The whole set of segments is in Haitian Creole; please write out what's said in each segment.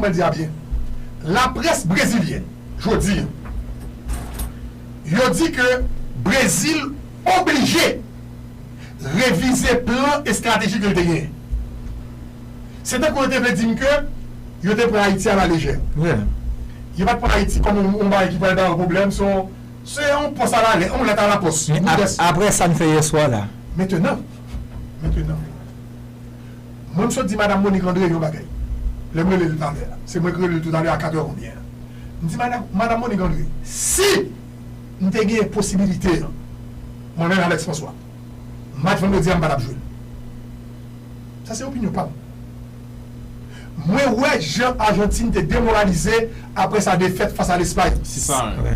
Mwen di a byen. Laprès brezilyen jodi an yo di ke Brezil oblije revize plan estratejik li te genyen. Se tankou yo te vle di m ke yo te pran Ayiti a la lejè. Yo pa t pran Ayiti kòm yon bagay ki pral ba yo pwoblèm. Se yon pòs a la lè, yon lèt a la pòs. Aprè sa n fè yèswa la. Mentenan, mentenan. Mwen m sot di madam Monique André yon bagay lè m rele l talè a, se mwen ki rele l toutalè a 4 è konbyen an. M di madam madam Monique André si m te genyen posibilite an mwen menm Alex François match vandredi a m pa tap jwe l. Sa se opinyon pa m. Mwen wè jan Argentine te demoralize aprè sa defèt fas a Lespay. Se sa a.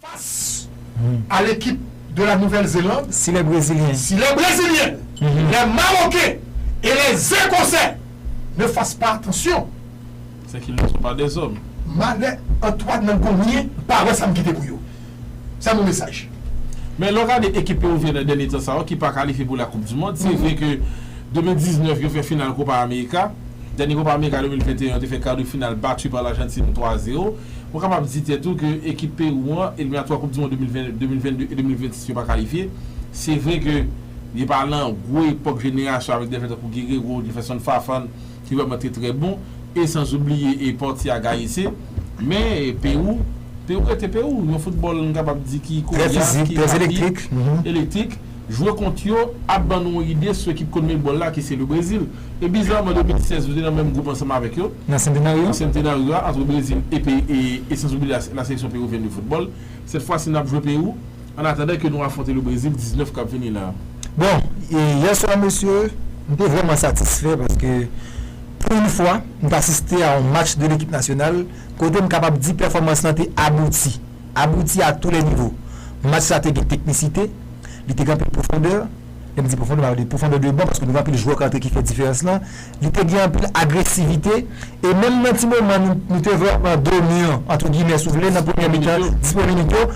Fas a lekip de la Nouvèl Zeland, si lè Brezilyen, lè Mawoken e lè Zekosè ne fas pa atansyon, Sè ki mou son pa de zòm. Malè Antwàn nan Gomyen pa wè sa m kite pou yo. Sè mou mesaj. Men lè w gade ekip Pewovyen nan dènye tan sa yo ki pa kalifye pou la koup di mond, se vre ke 2019 yo fè final Kopa Amerika, dènye Kopa Amerika 2021 yo te fè kar de final batu pa Lajantin 3 a 0. Mwen kapab di tèt ou ke ekip Pewou an, eliminatwa koup di mond 2022 e 2026 yo pa kalifye. Se vre ke yo pa lan gwo epòk jenerasyon avèk dèfè tankou Guerrero, Jefferson Farfan ki vrèman te trè bon e san zoubliye e Portia Gayese. Men Pewou, Pewou rete Pewou. Yon foutbòl m kapab di ki Trè koryas, fizik, ki trè rapid, elektrik. elektrik. Jwe kont yo ap ban nou yon ide sou ekip Conmebol la ki se le Brezil. E bizaman 2016 ou te nan menm gwoup ansanm avèk yo, nan Centenario a, antre Brezil epi e sans oubli la seleksyon peruvienne de football. Sèt fwasi nap jwe Peru an atandan ke nou afwonte le Brezil 19 kap vini la a. Bon, yè swa mesye, m te vrèman satisfè paske pou yon fwa m t asiste a yon match de lekip nasyonal kote m kapab di pèfòmans lan te abouti, abouti a tou lè nivo. Match la te gen teknisite, li te gen anpil pwofondè. lè m di pwofondè m pa vle di pwofondè de ban paske nou gen anpil jwè k antre ki fè diferans lan, li te gen anpil agresivite e menm nan ti moman nou te vrèman dominan antre gimè si w vle nan premyè mitan, 10 premye minit yo,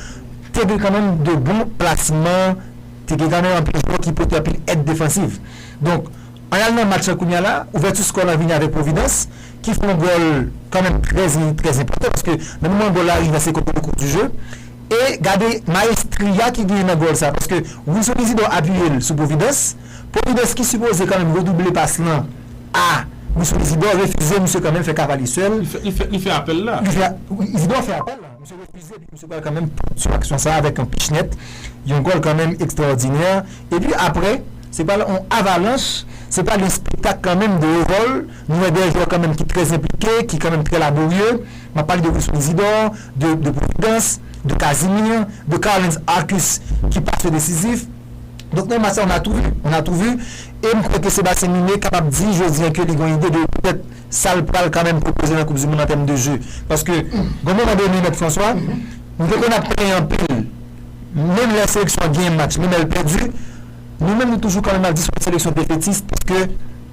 te gen kanmenm de bon plasman, te gen kanmenm anpil jwè ki pote anpil èd defansiv. Donk, an n al nan match lan kounya la, ouvèti skò lan vini avèk Providence ki fè yon gòl kanmenm trè enpòtan paske nan moman gòl la rive a se kote le cours du jeu. E gade maestria ki genyen nan gòl sa paske Wilson Isidor apiye l sou Providence, Providence ki sipoze kanmenm redouble pas lan a Wilson Isidor refize misye kanmenm fè Cavalier sèl. Li fè apèl la. Li fè, Isidor fè apèl la, misye refize epi misye pral kanmenm pote sou aksyon sa avèk yon pich nèt, yon gòl kanmenm ekstraòdinè epi aprè se pral yon avalanch, se pral yon spektak kanmenm de Haut-Vol, nou wè 2 jwè kanmenm ki trè enplike, ki kanmenm trè laborye, m ap pale de Wilson Isidor, de Providence, de Casimir, de Carlens Arcus ki pa se desizif. Donk nan match sa on a tou vu, on a tou vu e m kwè ke Sébastien Miné kapab di jodi an ke li gon ide de petèt sa l pral kanmenm pwopoze nan koup di mond an tèm de jeu. Paske gon moman done Mèt François, nou te konn ap plenyen anpil menm lè seleksyon an genyen match, menm lè l pèdi, nou menm nou toujou kanmenm ap di se yon seleksyon defetis paske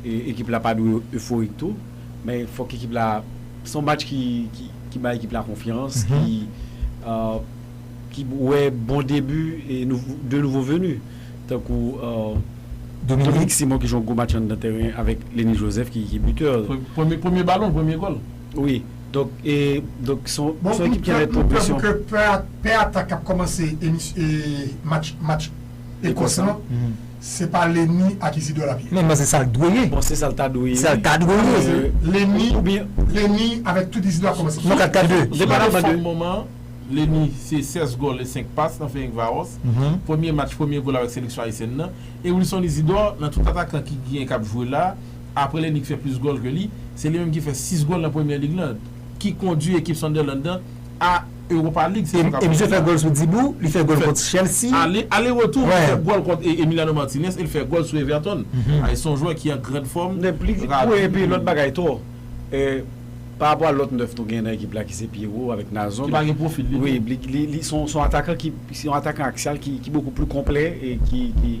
Ekip la pa dwe euforik tou, men fòk ekip la, se yon match ki bay ekip la konfyans, ki wè bon debi 2 nouvo veni tankou Dominique Simon ki jwe yon gwo match anndan tèren avèk Lenny Joseph ki bitè. Premye balon, premye gòl. Wi, donk se yon ekip ki anlè pwogresyon. Bon, nou pè pou ke pè atak k ap kòmanse match. Ecos lan se pa Lenny ak Isidor lap ye. Bon se sal dwe ye. Bon se sal ta dwe ye. Sal ta dwe ye. Lenny ou byen Lenny avek tout Isidor ap komanse. Non 4 4 2. Depaman de fòm moman Lenny se 16 gòl e 5 pas nan feyink varos premye match premye gòl avek seleksyon ayisyèn nan e Wilson Isidor nan tout atakan ki gnyen kap jwe la apre Lenny ki fè plis gòl ke li se li menm ki fè 6 gòl nan premyè lig lan. ki kondwi ekip Sunderland nan a Europa League sezon k ap vini an. E misye fè gòl sou Dibou, li fè gòl kont Chelsea. Ale retou li fè gòl kont Emiliano Martinez e li fè gòl sou Everton. Se yon jwè ki an grand fòm, rapi. E pi lòt bagay tou, parapò a lòt 9 nou gen nan ekip la ki se Pierrot avèk Nazon. Ki pa gen pwofil ditou. Wi, li son atakan ki, se yon atakan aksiyal ki bokou pli konplè e ki.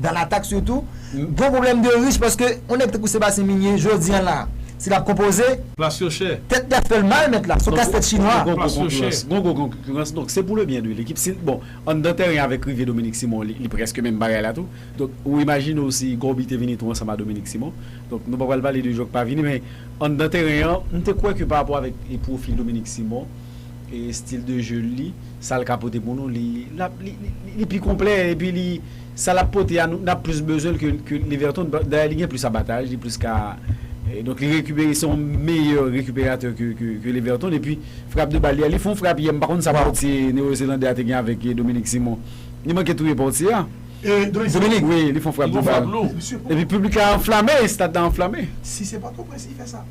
Dans l'attaque surtout Gon problème de riche paske on nèg tankou Sébastien Migné jodi an la si lap konpoze. Plas yo chè. Tèt li ap fèl mal mèt la, son kas tèt chinwa. Plas yo chè. Gon gwo konkirans donk se pou le byen de lekip si bon anndan tèren avèk rive Dominique Simon li prèske menm bagay la tou donk ou imajine w si Gòbi te vini tou ansanm a Dominique Simon donk nou pa pral pale de jwè ki pa vini men anndan tèren an m te kwè ke parapò avèk pwofil Dominique Simon e stil de jeu l li sa l ka pote pou nou li li pi konplè epi li Sa lap pote a nou nap plis bezwen l ke ke Leverton dayè li gen plis abataj li plis ka donk li rekipere se yon meyè rekiperatè ke ke Leverton epi frap de bal li a li fon frap yè m pa konn sa pòtye newozelandè a te gen avèk Dominique Simon li manke touye pòtye a Dominique wi li fon frap de bal epi piblik la anflame estad la anflame. Si se pòtoprens li fè sa.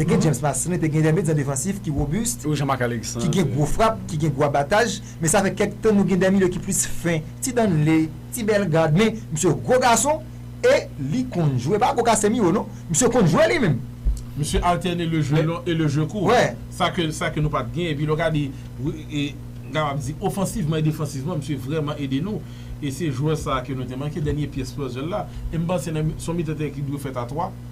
Te gen James Massin, te gen dèmid zan defansif ki wobist, ki gen gwo frap, ki gen gwo abataj, men sa fè kèk tan nou gen dèmilye ki plis fen, ti Danley, ti Bellegarde, men misye gwo gason e li konn jwe, pa gwo Casemiro non, misye konn jwe li menm. Misye altène le jwe long e le jwe kou, sa ke sa ke nou pat gen, epi lè w gade, m kapab di ofansivman e defansivman misye vrèman ede nou, e se jwè sa ke nou te manke, dènye pyès puzzel la, e m panse son mitan teren ki dwe fèt a 3.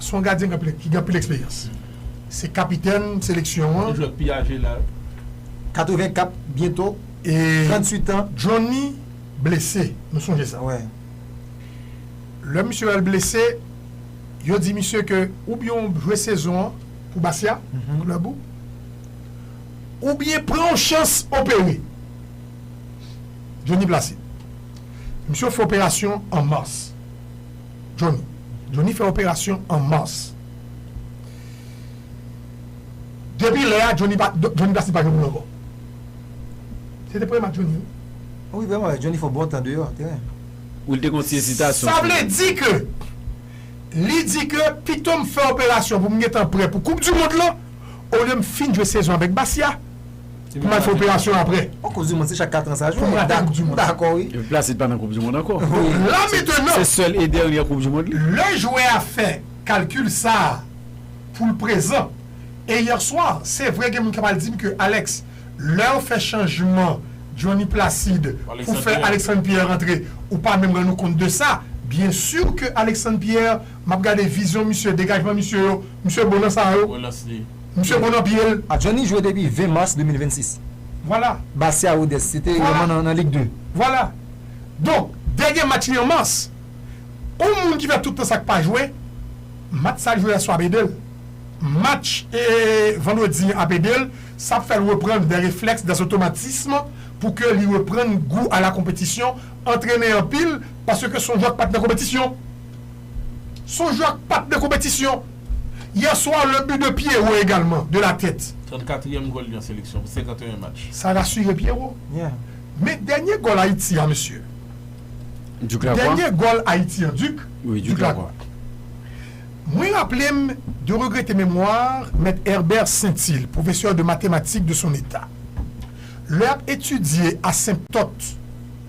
Se yon gadyen ki gen anpil eksperyans. Se kapitèn seleksyon an. Li jwe ak pi aje la. 84 byento 38 tan. Johnny blese, nou sonje sa. Wi. Lè misye al blese, yo di misye ke oubyen ou jwe sezon an pou Bastia, klèb ou, oubyen pran yon chans opere. Johnny Placide. Misye fè operasyon an mas. Johnny. Johnny fè operasyon an Mars. Depi lè a Johnny pa Johnny Plastik pa jwe pou l ankò. Se te premye match Johnny wi. Wi vrèman vre, Johnny fè yon bon tan deyò teren. Wi l te konn ti ezitasyon Sa vle di ke li di ke pito m fè operasyon pou m gentan prè pou koup du mond lan olye m fin jwe sezon avèk Bastia. Pou mwen fè operasyon aprè. Bon koup du mond se chak 4 ans sa jwe. Pou mwen fè koup du mond. M dakò wi. Epi Placide pa nan koup du mond ankò. La metenan. Se sèl e dènyè koup du mond li. Lè jwè a fè kalkil sa poul prezan. E hier soir se vre gen moun kap al dim ke Alex lèw fè chanjman Johnny Placide pou fè Alexandre Pierre antre ou pa menm rann ou kont de sa. Bien sur ke Alexandre Pierre map gade vizyon misye degajman misye yo misye bon nan sa yo. Misye bon nan pyel. A Johnny jwe depi 20 mars 2026. Vwala. Bastia Rodez se te yon man nan Ligue 2. Vwala. Donk dènye match li an mars. Yon moun ki fè tout tan sa k pa jwe, match sa l jwe yèswa ap ede l. Match vandredi an ap ede l. Sa ap fè l reprann dè reflèks, dè otomatism pou ke li reprann gou a la konpetisyon, antrene anpil paske se yon jwè k pa t nan konpetisyon. Sonjou ak pat nan konpetisyon yè swa le but de Pierrot egalman de la tèt. 34 ème gòl li an seleksyon pou 51 match. Sa rasire Pierrot. Men dènye gòl Ayiti an mesye. Duc Lacroix? Dènye gòl Ayiti an Duc? Wi Duc Lacroix. Mwen raple m de regrete memwar mèt Herbert Saintil, pwofesè de matematik de son eta. Lè ap etidye asenptòt.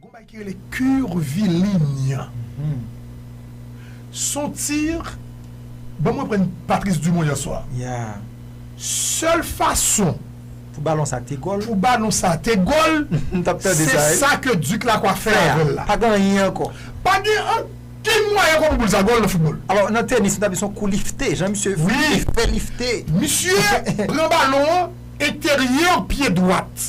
Gon bagay ki rele curviligne. Son tir banm reprann Patrice Dumont yè swa. Sèl fason pou balon sa te gòl se sa ke Duc Lacroix fè avèl la. Pa gen anyen ankò. Pa gen ankenn mwayen ankò pou boul sa gòl nan foutbòl. Alò nan tenis nou ta di son kou lifte jan misye fè lifte. Misye pran balon an enteryè pye dwat.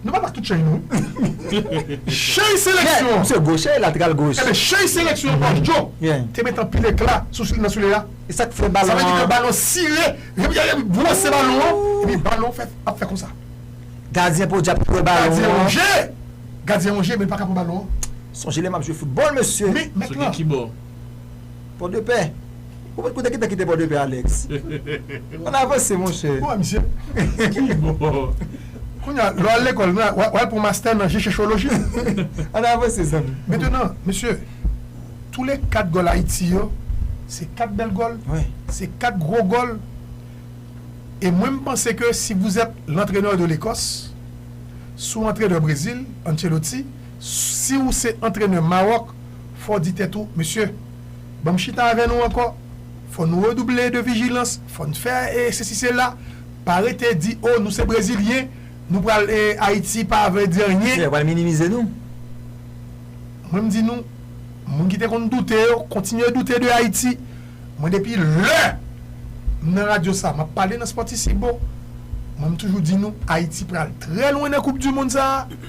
Nou pa bak tout cheny nou wi cheny seleksyon an se goche latral goch enben cheny seleksyon an Ange Djo te met anpil ekla sou sou li nan sou li a esak fè balon an sa vle di ke balon sire epi yaya li bwose balon an epi balon an fè ap fè konsa gadyen podyab ki wè balon an gadyen Ange gadyen Ange men li paka pran balon an sonje lè map jwe foutbòl mesye men mèt lan. Pòdepè? Ou pat koute kite kite Pòdepè Alex? Ann avanse monchè. Bon misye ki bon. Kounye a lè w al lekòl la w al pran mastè nan jechecholoji. Ann avanse zanmi. Mentenan mesye tou le 4 gòl Ayiti yo se 4 bèl gòl, se 4 gwo gòl e mwen m panse ke si vous êtes l'entraineur de l'Ecosse si w antrenè Brezil, Ancelotti, si w se antrenè Mawòk Fò w di tèt ou, Mesye, ban m chita avè nou ankò, fò n redouble de vijilans, fò n fè sesi sela, pa rete di, o, nou se Brezilyen, nou pral e Ayiti pa vle di anyen. Yo pral minimize nou. Mwen m di nou, moun ki te konn doute yo, kontinye doute de Ayiti. Mwen depi lè m nan radyo sa, m ap pale nan Spòtisibo, mwen m toujou di nou, Ayiti pral trè lwen nan koupdimonn sa a.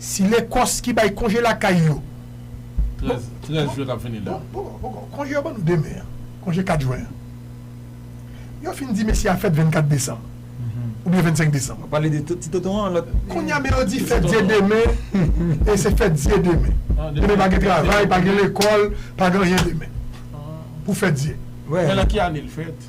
Si lekòs ki bay konje lakay yo. 13 13 jwen kap vini la. Poko konje yo ban nou demen an konje 4 jwen an yo fin di mesye a fèt 24 desanm oubyen 25 desanm Wap pale de ti tonton an lòt Kounya men yo di fèt dye demen e se fèt dye demen demen pa gen travay pa gen lekòl pa gen anyen demen pou fèt dye. Men lan ki ane l fèt?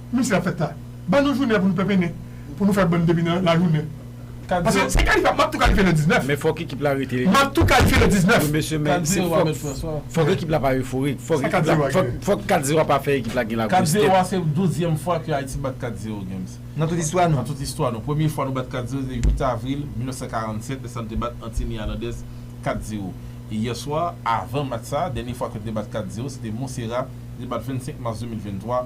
Mesi a fèt la ban nou jounen pou nou penpennen pou nou fè bon depi nan lajounen paske se kalifye map tou kalifye le 19. Men fòk ekip la rete. Map tou kalifye le 19. Premye semèn se fòk fòk ekip la pa euforik fòk ekip la fòk fòk 4 zero a pa fè ekip la gen lagwosite. 4 zero a se douzyèm fwa ke Ayiti bat 4 zero games nan tout istwa nou nan tout istwa nou premye fwa nou bat 4 zero se 8 avril 1947 lè sa nou te bat Antini Alandèz 4 zero e yèswa avan match sa dènye fwa ke nou te bat 4 zero se te Monsera nou te bat 25 mas 2023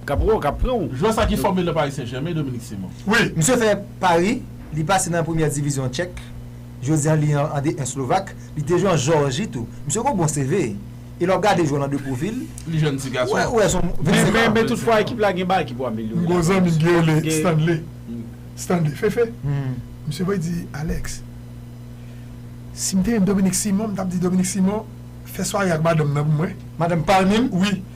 Kap wè w kap pranw. Jwè sa ki fòme nan Paris Saint Germain Dominique Simon. Wi, misye fè Pari, li pase nan premyè divizyon Tchèk, jodi an li an D1 Slovak, li te jwe an Jòrji tou. Misye gon bon CV e lè wap gade jwè l an de pwofil, Li jèn ti gason. ou wè son 25 an. Men tout fwa ekip la gen bagay ki pou amelyore. M gon zanmi m ki rele Stanley, Stanley Fefe, misye voye di Alex, si m te yon Dominique Simon m tap di Dominique Simon fè sware ak madanm nan pou mwen. Madanm Palmin? Wi.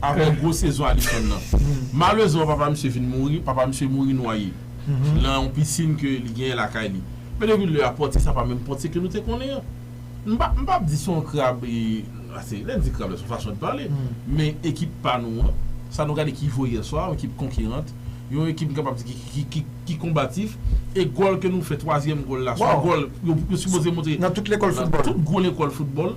Aprè gwo sezon Alisson nan. Malezman papa misye vin mouri, papa misye mouri nwaye lan yon pisin ke li genyen lakay li. Men depi lè a Pòtye sa pa menm Pòtye ke nou te konnen an. M pa m pap di se yon krab e ase lè n di krab la se yon fason de pale men ekip pa nou an sa nou gade ki jwe yè swa yon ekip konkirant yon ekip m kapab di ki ki ki ki konbatif e gòl ke nou fè twazyèm gòl la se yon gòl yo sipoze montre nan tout gwo lekòl foutbòl.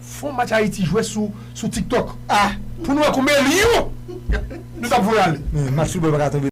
Fon match Ayiti jwe sou TikTok ah pou nou wè konbyen lyon nou tap voye ale. Match football paka tonbe.